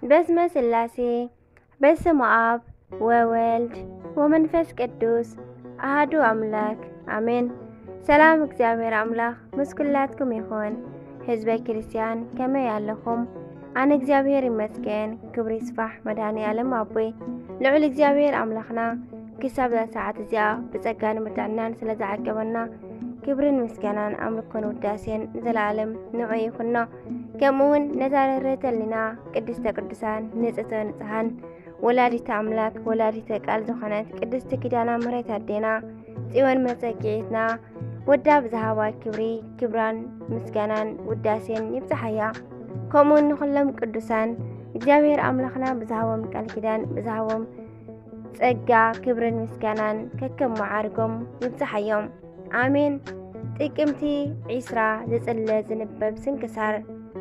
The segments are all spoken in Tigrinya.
በስመ ስላሴ በስመ አብ ወወልድ ወመንፈስ ቅዱስ አህዱ አምላክ አሜን። ሰላም እግዚአብሔር አምላክ ምስ ኩላትኩም ይኹን። ህዝበ ክርስቲያን ከመይ ኣለኹም? ኣነ እግዚኣብሔር ይመስገን። ክብሪ ይስፋሕ መድኃኔ ዓለም ኣቦይ ልዑል እግዚኣብሔር ኣምላኽና ክሳብ እዛ ሰዓት እዚኣ ብጸጋ ንምርዳእናን ስለ ዝዓቀበና ክብርን ምስጋናን ኣምልኮን ውዳሴን ንዘለኣለም ንዑ ይኹኖ። ከምኡውን ነዛ ርህርህተ ሊና ቅድስተ ቅዱሳን ንጽሕተ ንጽሓን ወላዲተ ኣምላክ ወላዲተ ቃል ዝኾነት ቅድስቲ ኪዳና ምሕረት ኣዴና ጽዮን መጸጊዒትና ወዳ ብዝሃባ ክብሪ ክብራን ምስጋናን ውዳሴን ይብጽሓያ። ከምኡውን ንኹሎም ቅዱሳን እግዚኣብሔር ኣምላኽና ብዝሃቦም ቃል ኪዳን ብዝሃቦም ጸጋ ክብርን ምስጋናን ከከም መዓርጎም ይብጽሓዮም ኣሜን። ጥቅምቲ ዒስራ ዝጽለ ዝንበብ ስንክሳር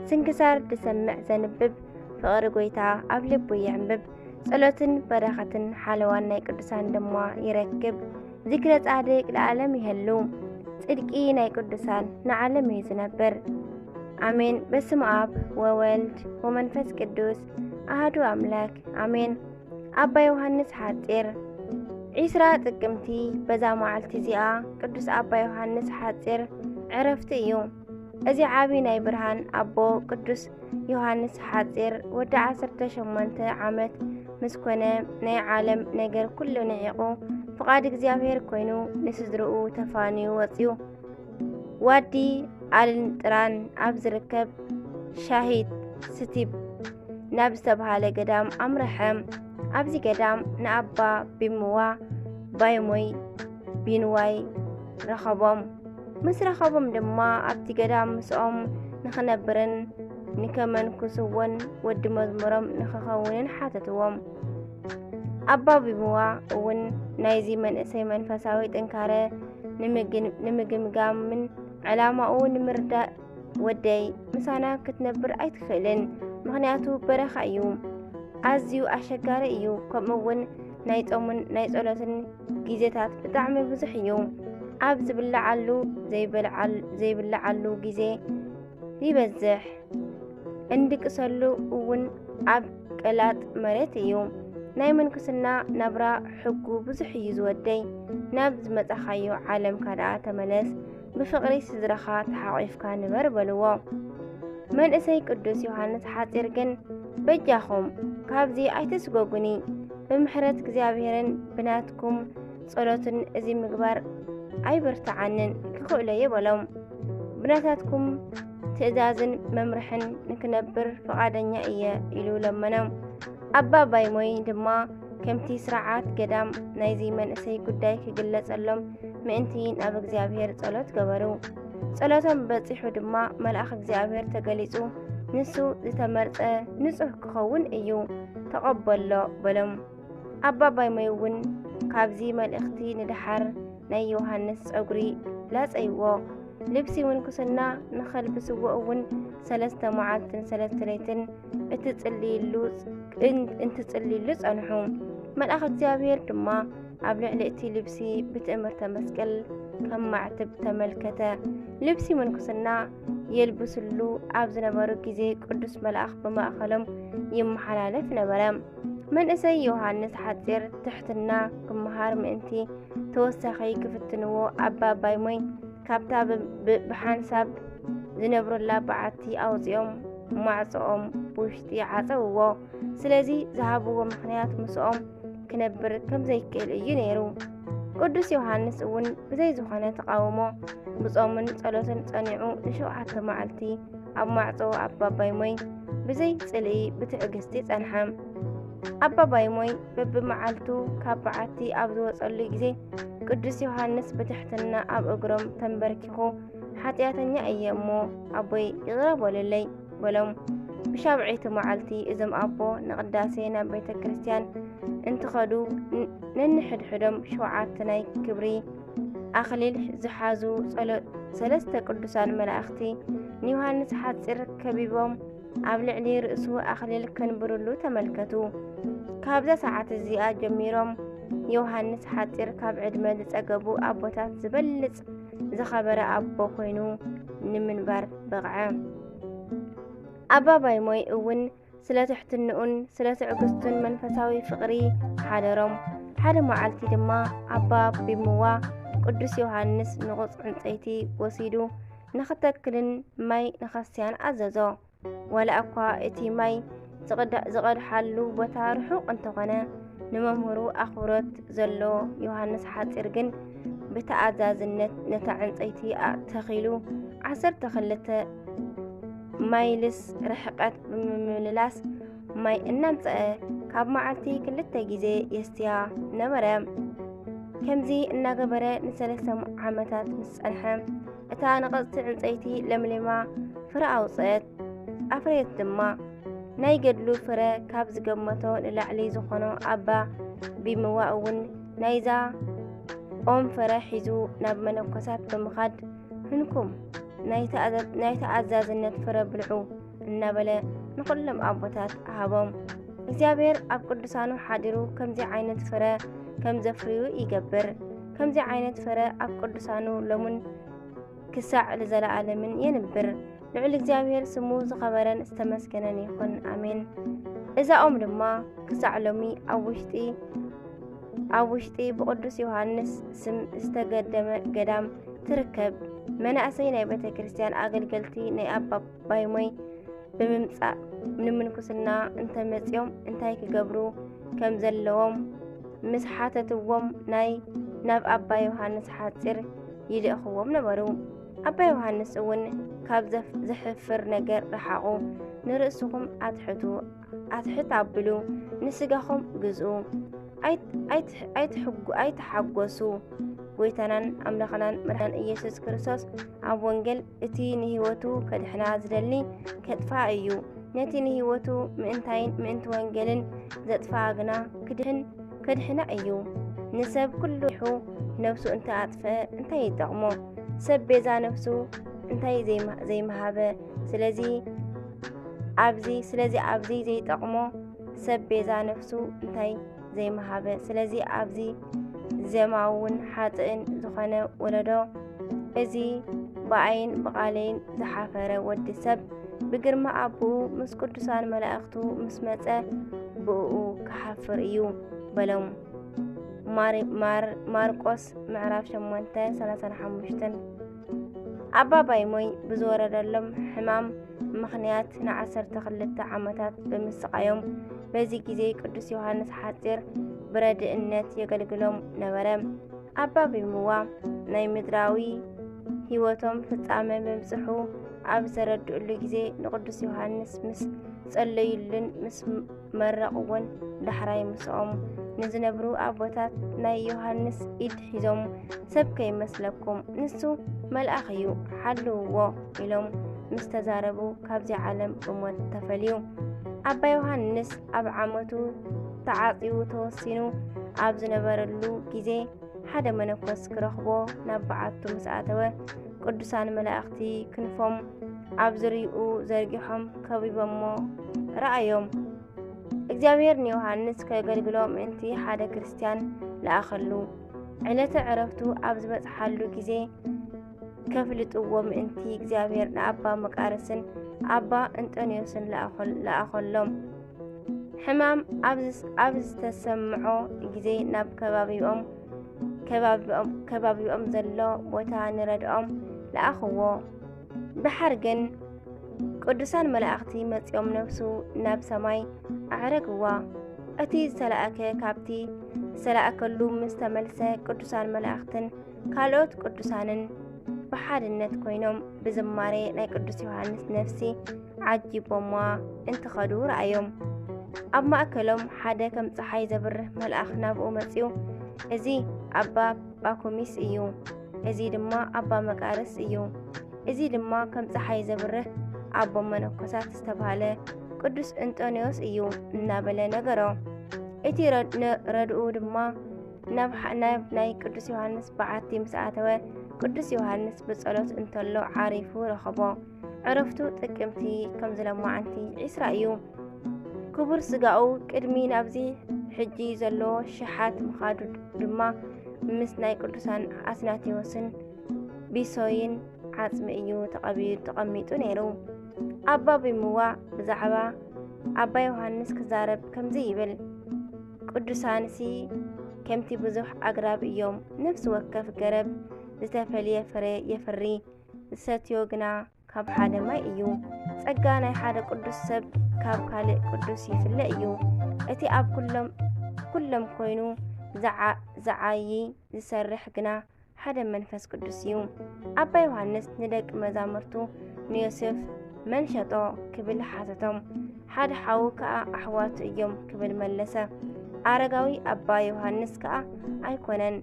ስንክሳር ዝሰምዕ ዘንብብ ፍቕሪ ጎይታ ኣብ ልቡ የዕምብብ ጸሎትን በረኸትን ሓለዋን ናይ ቅዱሳን ድማ ይረክብ ዝክረ ጻድቅ ንዓለም ይህሉ ጽድቂ ናይ ቅዱሳን ንዓለም እዩ ዝነብር ኣሜን። በስመ ኣብ ወወልድ ወመንፈስ ቅዱስ ኣህዱ ኣምላክ ኣሜን። ኣባ ዮሃንስ ሓጺር ዒስራ ጥቅምቲ በዛ መዓልቲ እዚኣ ቅዱስ ኣባ ዮሃንስ ሓጺር ዕረፍቲ እዩ። እዚ ዓቢ ናይ ብርሃን ኣቦ ቅዱስ ዮሃንስ ሓጺር ወዲ 18 ዓመት ምስ ኮነ ናይ ዓለም ነገር ኩሉ ንዒቑ ፍቓድ እግዚኣብሔር ኮይኑ ንስድርኡ ተፋንዩ ወጽዩ። ዋዲ ኣልንጥራን ኣብ ዝርከብ ሻሂት ስቲብ ናብ ዝተብሃለ ገዳም ኣምርሐ። ኣብዚ ገዳም ንኣባ ቢምዋ ባይሞይ ቢንዋይ ረኸቦም። ምስ ረኸቦም ድማ ኣብቲ ገዳም ምስኦም ንኽነብርን ንከመንኩስዎን ወዲ መዝሙሮም ንኽኸውንን ሓተትዎም። ኣባ ቢምዋ እውን ናይዚ መንእሰይ መንፈሳዊ ጥንካረ ንምግምጋምን ዕላማኡ ንምርዳእ ወደይ ምሳና ክትነብር ኣይትኽእልን፣ ምኽንያቱ በረኻ እዩ፣ ኣዝዩ ኣሸጋሪ እዩ፣ ከምኡ እውን ናይ ጾምን ናይ ጸሎትን ግዜታት ብጣዕሚ ብዙሕ እዩ። ኣብ ዝብልዓሉ ዘይብልዓሉ ግዜ ይበዝሕ። እንድቅሰሉ እውን ኣብ ቀላጥ መሬት እዩ። ናይ ምንኩስና ናብራ ሕጉ ብዙሕ እዩ ዝወደይ። ናብ ዝመጻኻዮ ዓለም ካድኣ ተመለስ፣ ብፍቕሪ ስድራኻ ተሓቒፍካ ንበር በልዎ። መንእሰይ ቅዱስ ዮሃንስ ሓጺር ግን በጃኹም ካብዚ ኣይትስጎጉኒ፣ ብምሕረት እግዚኣብሔርን ብናትኩም ጸሎትን እዚ ምግባር ኣይበርትዓንን ክኽእሎየ በሎም። ብናታትኩም ትእዛዝን መምርሕን ንክነብር ፍቓደኛ እየ ኢሉ ለመኖም። ኣባ ባይሞይ ድማ ከምቲ ስርዓት ገዳም ናይዚ መንእሰይ ጉዳይ ክግለጸሎም ምእንቲ ናብ እግዚኣብሔር ጸሎት ገበሩ። ጸሎቶም በጺሑ ድማ መልኣኽ እግዚኣብሔር ተገሊጹ ንሱ ዝተመርጸ ንጹሕ ክኸውን እዩ ተቐበሎ በሎም። ኣባ ባይሞይ እውን ካብዚ መልእኽቲ ንደሓር ናይ ዮሃንስ ጸጉሪ ላጸይዎ። ልብሲ ምንኩስና ንኸልብስዎ እውን ሰለስተ መዓልትን ሰለስተ ለይትን እትጽልይሉ እንትጽልይሉ ጸንሑ። መልኣኽ እግዚኣብሔር ድማ ኣብ ልዕሊ እቲ ልብሲ ብትእምርተ መስቀል ከም ማዕትብ ተመልከተ። ልብሲ ምንኩስና የልብስሉ ኣብ ዝነበሩ ግዜ ቅዱስ መልኣኽ ብማእኸሎም ይመሓላለፍ ነበረ። መንእሰይ ዮሃንስ ሓጺር ትሕትና ክመሃር ምእንቲ ተወሳኺ ክፍትንዎ ኣባ ኣባይ ሞይ ካብታ ብሓንሳብ ዝነብሩላ በዓቲ ኣውፂኦም ማዕፅኦም ብውሽጢ ዓፀውዎ። ስለዚ ዝሃብዎ ምክንያት ምስኦም ክነብር ከም ዘይክእል እዩ ነይሩ። ቅዱስ ዮሃንስ እውን ብዘይ ዝኾነ ተቃውሞ ብጾምን ጸሎትን ጸኒዑ ንሸውዓተ መዓልቲ ኣብ ማዕጾ ኣባባይ ሞይ ብዘይ ጽልኢ ብትዕግስቲ ጸንሐ። ኣባባይ ሞይ በብመዓልቱ ካብ በዓቲ ኣብ ዝወጸሉ ግዜ ቅዱስ ዮሃንስ ብትሕትና ኣብ እግሮም ተንበርኪኹ ሓጢኣተኛ እየ እሞ ኣቦይ ይቕረ በሉለይ በሎም። ብሻብዐይቲ መዓልቲ እዞም ኣቦ ንቅዳሴ ናብ ቤተ ክርስቲያን እንትኸዱ ነንሕድሕዶም ሸውዓተ ናይ ክብሪ ኣኽሊል ዝሓዙ ሰለስተ ቅዱሳን መላእኽቲ ንዮሃንስ ሓፂር ከቢቦም ኣብ ልዕሊ ርእሱ ኣኽሊል ከንብርሉ ተመልከቱ። ካብዛ ሰዓት እዚኣ ጀሚሮም ዮሃንስ ሓፂር ካብ ዕድመ ዝፀገቡ ኣቦታት ዝበልፅ ዝኸበረ ኣቦ ኮይኑ ንምንባር በቕዐ። ኣባ ባይሞይ እውን ስለ ትሕትንኡን ስለ ትዕግስቱን መንፈሳዊ ፍቕሪ ሓደሮም። ሓደ መዓልቲ ድማ ኣባ ቢምዋ ቅዱስ ዮሃንስ ንቑፅ ዕንፀይቲ ወሲዱ ንኽተክልን ማይ ንኸስትያን ኣዘዞ። ዋላ እኳ እቲ ማይ ዝቐድሓሉ ቦታ ርሑቕ እንተኾነ ንመምህሩ ኣኽብሮት ዘሎ ዮሃንስ ሓፂር ግን ብተኣዛዝነት ነታ ዕንፀይቲ ተኺሉ ዓሰርተ ክልተ ማይልስ ርሕቀት ብምምልላስ ማይ እናምፀአ ካብ መዓልቲ ክልተ ግዜ የስትያ ነበረ። ከምዚ እናገበረ ንሰለስተ ዓመታት ምስ ጸንሐ እታ ነቐጽቲ ዕንፀይቲ ለምሊማ ፍረ ኣውፅአት፣ ኣፍረየት ድማ። ናይ ገድሉ ፍረ ካብ ዝገመቶ ንላዕሊ ዝኾኖ ኣባ ቢምዋ እውን ናይዛ ኦም ፍረ ሒዙ ናብ መነኮሳት ብምኻድ ህንኩም ናይ ተኣዛዝነት ፍረ ብልዑ እናበለ ንኹሎም ኣቦታት ሃቦም። እግዚኣብሔር ኣብ ቅዱሳኑ ሓዲሩ ከምዚ ዓይነት ፍረ ከም ዘፍርዩ ይገብር። ከምዚ ዓይነት ፍረ ኣብ ቅዱሳኑ ሎሙን ክሳዕ ንዘለኣለምን የንብር። ልዑል እግዚኣብሔር ስሙ ዝኸበረን ዝተመስገነን ይኹን፣ ኣሜን። እዛ ኦም ድማ ክሳዕ ሎሚ ኣብ ውሽጢ ኣብ ውሽጢ ብቕዱስ ዮሃንስ ስም ዝተገደመ ገዳም ትርከብ። መናእሰይ ናይ ቤተ ክርስቲያን ኣገልገልቲ ናይ ኣባ ባይሞይ ብምምጻእ ንምንኩስና እንተመጽኦም እንታይ ክገብሩ ከም ዘለዎም ምስ ሓተትዎም ናይ ናብ ኣባ ዮሃንስ ሓጺር ይልእኽዎም ነበሩ። ኣባ ዮሃንስ እውን ካብ ዘሕፍር ነገር ረሓቑ፣ ንርእስኹም ኣትሕቱ ኣትሕት ኣብሉ፣ ንስጋኹም ግዝኡ፣ ኣይትሓጎሱ። ጎይታናን ኣምላኽናን መድሓን ኢየሱስ ክርስቶስ ኣብ ወንጌል እቲ ንህይወቱ ከድሕና ዝደሊ ከጥፍኣ እዩ። ነቲ ንህይወቱ ምእንታይን ምእንቲ ወንጌልን ዘጥፍኣ ግና ክድሕን ከድሕና እዩ። ንሰብ ኩሉ ይሑ ነፍሱ እንተ ኣጥፍአ እንታይ ይጠቕሞ? ሰብ ቤዛ ነፍሱ እንታይ ዘይምሃበ? ስለዚ ኣብዚ ስለዚ ኣብዚ ዘይጠቕሞ ሰብ ቤዛ ነፍሱ እንታይ ዘይመሃበ ስለዚ ኣብዚ ዘማውን ሓጥእን ዝኾነ ወለዶ እዚ ብኣይን ብቓለይን ዝሓፈረ ወዲ ሰብ ብግርማ ኣቦኡ ምስ ቅዱሳን መላእኽቱ ምስ መጸ ብእኡ ክሓፍር እዩ በሎም። ማርቆስ ምዕራፍ 8 35 ኣባባይ ሞይ ብዝወረደሎም ሕማም ምኽንያት ንዓሰርተ ክልተ ዓመታት ብምስቃዮም በዚ ግዜ ቅዱስ ዮሃንስ ሓፂር ብረድእነት የገልግሎም ነበረ። ኣባ ቢምዋ ናይ ምድራዊ ህይወቶም ፍጻመ ምብጽሑ ኣብ ዘረድእሉ ግዜ ንቅዱስ ዮሃንስ ምስ ጸለዩልን ምስ መረቕ እውን ዳሕራይ ምስኦም ንዝነብሩ ኣቦታት ናይ ዮሃንስ ኢድ ሒዞም ሰብ ከይመስለኩም ንሱ መልኣኽ እዩ ሓልውዎ ኢሎም ምስ ተዛረቡ ካብዚ ዓለም ብሞት ተፈልዩ ኣባ ዮሃንስ ኣብ ዓመቱ ተዓጽዩ ተወሲኑ ኣብ ዝነበረሉ ግዜ ሓደ መነኮስ ክረኽቦ ናብ በዓቱ ምስ ኣተወ ቅዱሳን መላእኽቲ ክንፎም ኣብ ዝርይኡ ዘርጊሖም ከቢቦሞ ረኣዮም። እግዚኣብሔር ንዮሃንስ ከገልግሎ ምእንቲ ሓደ ክርስትያን ለኣኸሉ። ዕለተ ዕረፍቱ ኣብ ዝበጽሓሉ ግዜ ከፍልጥዎ ምእንቲ እግዚኣብሔር ንኣባ መቃርስን ኣባ እንጠንዮስን ለኣኸሎም። ሕማም ኣብ ዝተሰምዖ ግዜ ናብ ከባቢኦም ከባቢኦም ዘሎ ቦታ ንረድኦም ለኣኽዎ። ድሓር ግን ቅዱሳን መላእኽቲ መጺኦም ነፍሱ ናብ ሰማይ ኣዕረግዋ። እቲ ዝተላእከ ካብቲ ዝተላእከሉ ምስ ተመልሰ ቅዱሳን መላእኽትን ካልኦት ቅዱሳንን ብሓድነት ኮይኖም ብዝማሬ ናይ ቅዱስ ዮሃንስ ነፍሲ ዓጂቦማ እንትኸዱ ረኣዮም። ኣብ ማእከሎም ሓደ ከም ፀሓይ ዘብርህ መልኣኽ ናብኡ መጺኡ፣ እዚ ኣባ ጳኩሚስ እዩ፣ እዚ ድማ ኣባ መቃርስ እዩ፣ እዚ ድማ ከም ፀሓይ ዘብርህ ኣቦ መነኮሳት ዝተባህለ ቅዱስ እንጦንዮስ እዩ እናበለ ነገሮ። እቲ ረድኡ ድማ ናብ ናይ ቅዱስ ዮሃንስ በዓቲ ምስ ኣተወ ቅዱስ ዮሃንስ ብጸሎት እንተሎ ዓሪፉ ረኸቦ። ዕረፍቱ ጥቅምቲ ከም ዝለማዓንቲ ዒስራ እዩ። ክቡር ስጋኡ ቅድሚ ናብዚ ሕጂ ዘሎ ሽሓት ምኻዱ ድማ ምስ ናይ ቅዱሳን ኣትናቴዎስን ቢሶይን ዓጽሚ እዩ ተቐሚጡ ነይሩ። ኣባ ቢምዋ ብዛዕባ ኣባ ዮሃንስ ክዛረብ ከምዚ ይብል ቅዱሳንሲ ከምቲ ብዙሕ ኣግራብ እዮም ነፍሲ ወከፍ ገረብ ዝተፈልየ ፍረ የፍሪ ዝሰትዮ ግና ካብ ሓደ ማይ እዩ። ጸጋ ናይ ሓደ ቅዱስ ሰብ ካብ ካልእ ቅዱስ ይፍለ እዩ። እቲ ኣብ ኩሎም ኩሎም ኮይኑ ዝዓዪ ዝሰርሕ ግና ሓደ መንፈስ ቅዱስ እዩ። ኣባ ዮሃንስ ንደቂ መዛሙርቱ ንዮሴፍ መን ሸጦ ክብል ሓተቶም። ሓደ ሓዉ ከኣ ኣሕዋቱ እዮም ክብል መለሰ። ኣረጋዊ ኣባ ዮሃንስ ከኣ ኣይኮነን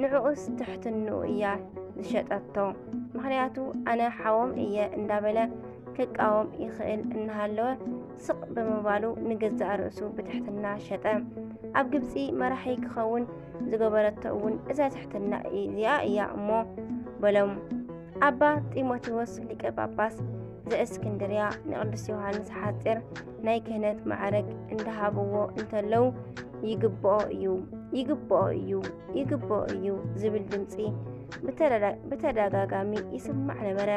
ንዕኡስ ትሕትንኡ እያ ዝሸጠቶ ምክንያቱ ኣነ ሓዎም እየ እንዳበለ ክቃወም ይኽእል እናሃለወ ስቕ ብምባሉ ንገዛእ ርእሱ ብትሕትና ሸጠ። ኣብ ግብፂ መራሒ ክኸውን ዝገበረቶ እውን እዛ ትሕትና እዚኣ እያ እሞ በሎም። ኣባ ጢሞቴዎስ ሊቀ ጳጳስ ዘእስክንድርያ ንቅዱስ ዮሃንስ ሓፂር ናይ ክህነት ማዕረግ እንዳሃብዎ እንተለዉ ይግብኦ እዩ ይግብኦ እዩ ይግብኦ እዩ ዝብል ድምፂ ብተደጋጋሚ ይስማዕ ነበረ።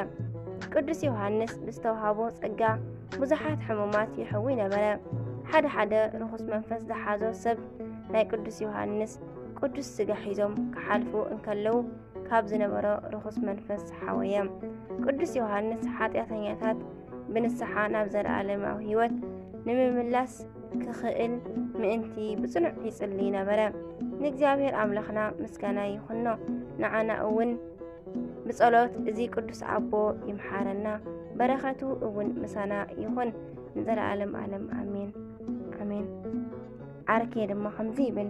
ቅዱስ ዮሃንስ ብዝተውሃቦ ጸጋ ብዙሓት ሕሙማት ይሕዊ ነበረ። ሓደ ሓደ ርኹስ መንፈስ ዝሓዞ ሰብ ናይ ቅዱስ ዮሃንስ ቅዱስ ስጋ ሒዞም ክሓልፉ እንከለዉ ካብ ዝነበሮ ርኹስ መንፈስ ዝሓወየ ቅዱስ ዮሃንስ ሓጢኣተኛታት ብንስሓ ናብ ዘለኣለማዊ ህይወት ንምምላስ ክኽእል ምእንቲ ብጽኑዕ ይጽሊ ነበረ። ንእግዚኣብሔር ኣምላኽና ምስጋና ይኹኖ፣ ንዓና እውን ብጸሎት እዚ ቅዱስ ኣቦ ይምሓረና፣ በረኸቱ እውን ምሳና ይኹን ንዘለኣለም ኣለም ኣሜን ኣሜን። ዓርኬ ድማ ከምዚ ይብል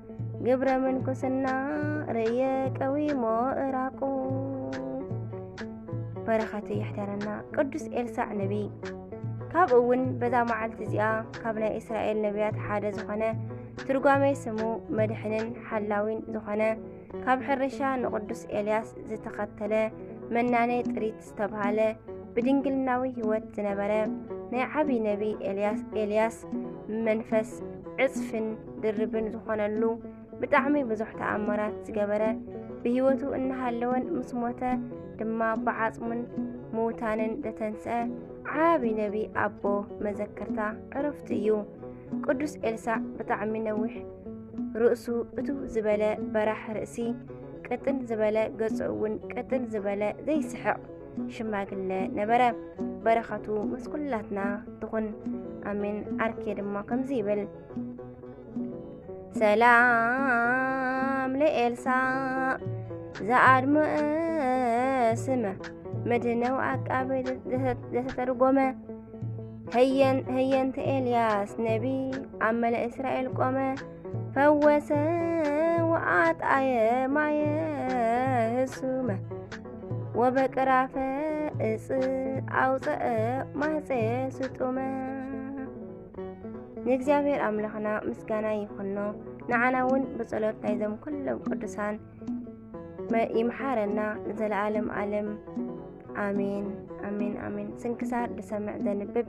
ግብረ ምንኩስና ርእየ ቀዊሞ እራቁ በረኸቱ የሕደረና ቅዱስ ኤልሳዕ ነቢይ ካብኡ እውን በዛ መዓልቲ እዚኣ ካብ ናይ እስራኤል ነቢያት ሓደ ዝኾነ ትርጓሜ ስሙ መድሕንን ሓላዊን ዝኾነ ካብ ሕርሻ ንቅዱስ ኤልያስ ዝተኸተለ መናኔ ጥሪት ዝተብሃለ ብድንግልናዊ ህይወት ዝነበረ ናይ ዓብዪ ነቢይ ኤልያስ ኤልያስ መንፈስ ዕፅፍን ድርብን ዝኾነሉ ብጣዕሚ ብዙሕ ተኣምራት ዝገበረ ብህይወቱ እናሃለወን ምስ ሞተ ድማ ብዓፅሙን ምውታንን ዘተንስአ ዓቢ ነቢ ኣቦ መዘከርታ ዕረፍቱ እዩ። ቅዱስ ኤልሳዕ ብጣዕሚ ነዊሕ ርእሱ እቱ ዝበለ በራሕ ርእሲ ቅጥን ዝበለ ገጹ እውን ቅጥን ዝበለ ዘይስሕቕ ሽማግለ ነበረ። በረኸቱ ምስ ኩላትና ትኹን ኣሜን። ዓርኬ ድማ ከምዚ ይብል ሰላም ለኤልሳ ዘኣድመ ስመ መድነው ኣቃቤ ዘተተርጎመ ህየንተ ኤልያስ ነቢ ኣብ መለ እስራኤል ቆመ ፈወሰ ወአጣየ ማየ ህሱመ ወበቅራፈ እፅ ኣውፀአ ማህፀየ ስጡመ ንእግዚኣብሔር ኣምላኽና ምስጋና ይኹኖ ንዓና እውን ብጸሎት ናይዞም ኩሎም ቅዱሳን ይምሓረና ንዘለኣለም ኣለም ኣሜን ኣሜን ኣሜን። ስንክሳር ድሰምዕ ዘንብብ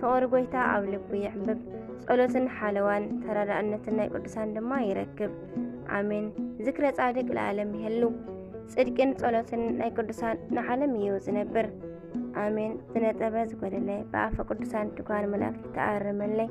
ፍቕሪ ጎይታ ኣብ ልቡ የዕምብብ ጸሎትን ሓለዋን ተረዳእነትን ናይ ቅዱሳን ድማ ይረክብ ኣሜን። ዝክረ ጻድቅ ለዓለም ይህሉ ጽድቅን ጸሎትን ናይ ቅዱሳን ንዓለም እዩ ዝነብር ኣሜን። ዝነጠበ ዝጎደለ ብኣፈ ቅዱሳን ድጓን መላእክት ተኣርመለይ